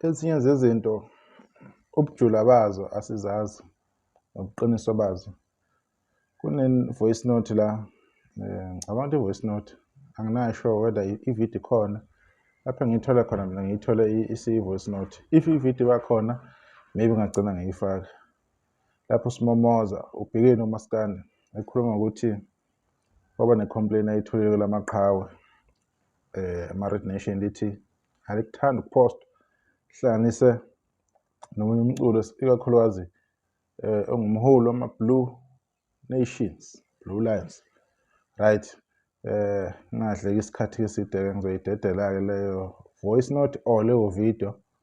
Ezinye zezinto ubujula bazo asizazi nobuqiniso bazo. Kune-voice note la um ngicabanga ukuthi i-voice note anginayo sure whether i-video ikhona lapho engiyithole khona mina ngiyithole isiyi-voice note if i-video bakhona maybe ngagcina ngiyifaka lapho simomoza ubhekeni umaskandi ekhuluma ngokuthi Kwaba ne-complain ayitholile kula maqhawe eh ama-red nation lithi alikuthandi ukupost hlanganise nomunye umculo ikakhulukazi eh ongumholi wama-blue nations blue lions right eh ngingadleki isikhathi eside-ke ngizoyidedela-ke leyo voice note or leyo video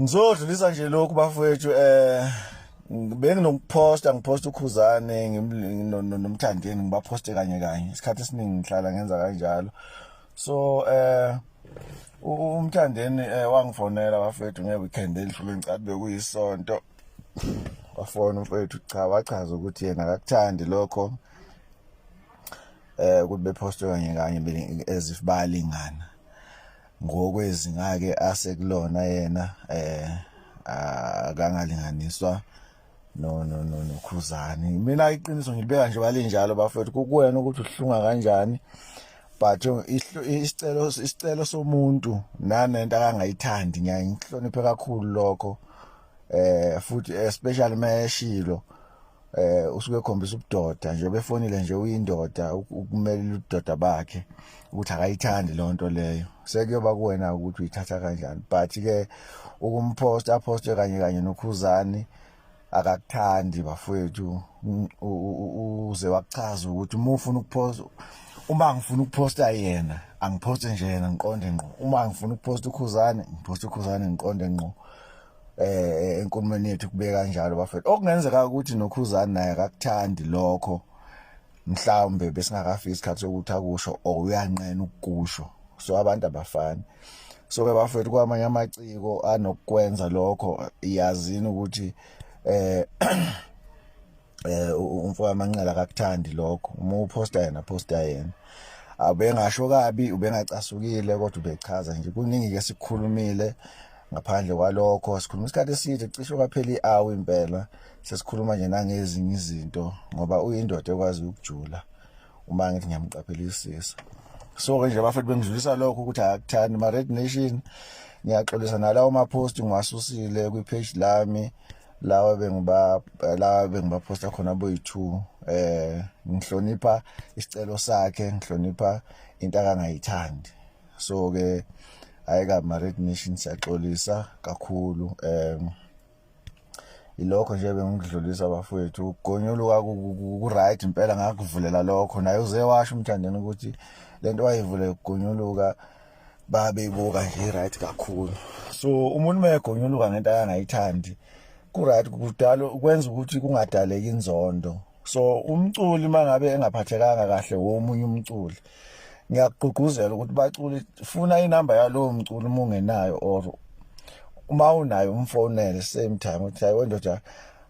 Ngizodlulisa nje lokhu bafowethu eh benginokuphosta ngiphosta ukhuzane nomthandeni ngibaphoste kanye kanye isikhathi esiningi ngihlala ngenza kanjalo so eh umthandeni eh, wangifonela bafethu ngeweekend elidlule ngicade bekuyisonto wafona umfethu cha wachaza ukuthi yena akakuthandi lokho eh ukuthi bephostwe kanye kanye as if bayalingana ngokwezinga ke asekulona yena eh akangalinganiswa no no no nokhuzani mina iqiniso ngilibeka nje balinjalo bafethu kukuwena ukuthi uhlunga kanjani but isicelo isicelo somuntu nanento akangayithandi ngiyaye ngihloniphe kakhulu lokho eh futhi especially mayeshilo eh usuke ekhombisa ubudoda nje befonile nje uyindoda ukumelela ubudoda bakhe ukuthi akayithandi leyo nto leyo sekuyoba kuwena ukuthi uyithatha kanjani but ke ukumposta aposte kanye kanye nokhuzani akakuthandi bafowethu uze wakuchaza ukuthi uma ufuna ukuposta uma ngifuna ukuposta yena angiphoste nje yena ngiqonde ngqo uma ngifuna ukuposta ukhuzane ngiposta ukhuzane ngiqonde ngqo eh enkulumeni yethu kube kanjalo bafethu okungenzeka ukuthi nokhuzani naye akakuthandi lokho mhlawumbe besingakafiki isikhathi sokuthi akusho or uyanqena ukukusho so abantu abafani so ke bafethu kwamanye amaciko anokukwenza lokho iyazini ukuthi eh eh umfoka manqala akakuthandi lokho uma uposta yena posta yena abengasho kabi ubengacasukile kodwa ubechaza nje kuningi ke sikhulumile ngaphandle kwalokho sikhuluma isikhathi eside cishe kwaphela i-hour impela sesikhuluma nje nangezinye izinto ngoba uyindoda ekwazi ukujula uma ngithi ngiyamqaphelisisa so ke nje bafethu bengidlulisa lokho ukuthi akuthandi ma-red nation ngiyaxolisa nalawo maposti ngiwasusile kwi-page lami lawa bengiba lawa bengibaphosta khona boyi-two eh ngihlonipha isicelo sakhe ngihlonipha into akangayithandi so ke hayi ka married nation siyaxolisa kakhulu um ilokho nje bengikudlulisa bafowethu ukugonyuluka ku-right impela ngakuvulela lokho naye uze washo umthandeni ukuthi le nto wayivule ukugonyuluka babeyibuka nje right kakhulu so umuntu mayegonyuluka ngento ayangayithandi ku right kudala ukwenza ukuthi kungadaleki inzondo so umculi mangabe engaphathekanga kahle womunye umculi ngiyakugqugquzela ukuthi baculi funa inamba yalowo mculi uma ungenayo or uma unayo umfonele same time uthi hayi wendoda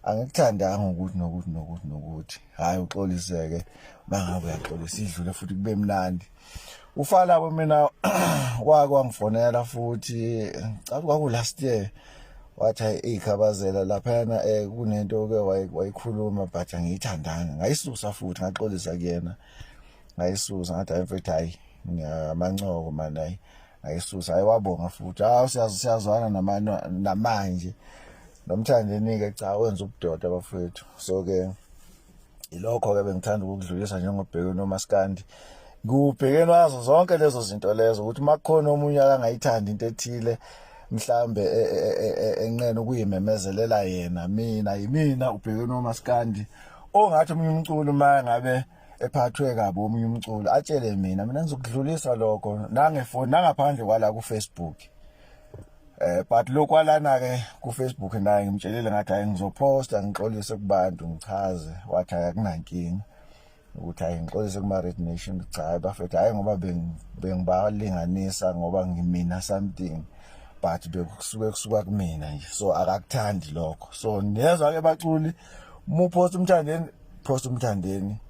angikuthandanga ukuthi nokuthi nokuthi nokuthi hayi uxoliseke mangabe uyaxolisa idlule futhi kube mnandi ufala mina wake wangifonela futhi ngicabanga kwaku last year wathi hayi ikhabazela laphana eh kunento oke wayikhuluma but angiyithandanga ngayisusa futhi ngaxolisa kuyena ngayisusa ngathi hayi mfethu hayi ngiyamancoko manje hayi ngayisusa hayi wabonga futhi hawu siyazi siyazwana namanje namanje nomthandenike cha wenza ubudoda bafethu so ke ilokho-ke bengithanda ukukudlulisa njengobheke nomaskandi kubhekeni wazo zonke lezo zinto lezo ukuthi uma kukhona omunye akangayithandi into ethile mhlambe e, e, e, enqena ukuyimemezelela yena mina yimina ubhekeni womaskandi ongathi omunye umculo uma ngabe ephathwe kabi omunye umculo atshele mina mina ngizokudlulisa lokho nangefoni nangaphandle kwala ku-facebook eh but lokwalana ke ku Facebook naye ngimtshelile ngathi hayi ngizoposta ngixolise kubantu ngichaze wathi akunankinga ukuthi hayi ngixolise kuma Red Nation cha hayi bafethu hayi ngoba bengibalinganisa ngoba ngimina something but bekusuke kusuka kumina nje so akakuthandi lokho so niyezwa ke baculi uma uphosta umthandeni phosta umthandeni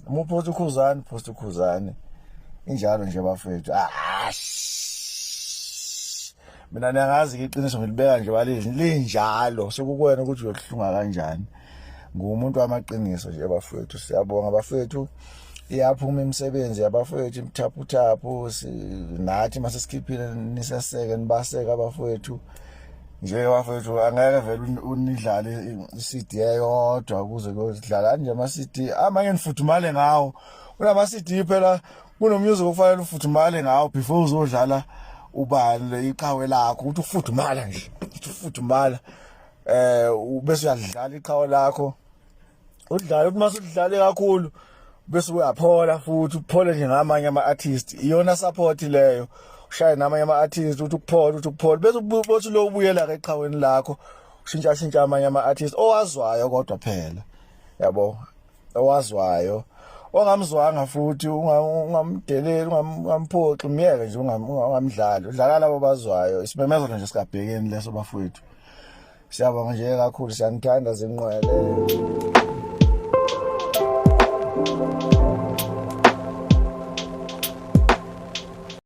uma uphosta ukhuzane phosta ukhuzane injalo nje bafethu mina niyangazi-ke iqiniso ngilibeka nje balini linjalo sekukwena ukuthi uyokuhlunga kanjani ngumuntu wamaqiniso nje bafethu siyabonga bafethu iyaphuma imisebenzi yabafowethu imthaphuthaphu nathi masesikhiphile niseseke nibaseke abafowethu nje wafethu angeke vele unidlale i-cd eyodwa ukuze kuyodlala anje ama-cd amanye nifuthumale ngawo kunama-cd phela kunomusic okufanele ufuthumale ngawo before uzodlala ubani le iqhawe lakho ukuthi ufudumala nje ukuthi ufudumala eh bese uyadlala iqhawe lakho udlala uma sudlale kakhulu bese uyaphola futhi uphole nje ngamanye ama artist iyona support leyo ushaye namanye ama artist uthi ukuphola uthi ukuphola bese ubothi lo ubuyela ke eqhaweni lakho ushintsha shintsha amanye ama artist owazwayo kodwa phela yabo owazwayo ongamzwanga futhi ungamdeleli ungamphoxi myeke nje ungamdlali udlala labo bazwayo isimemezelo nje sikabhekeni leso bafowethu Siyabonga nje kakhulu siyanithanda zinqwele.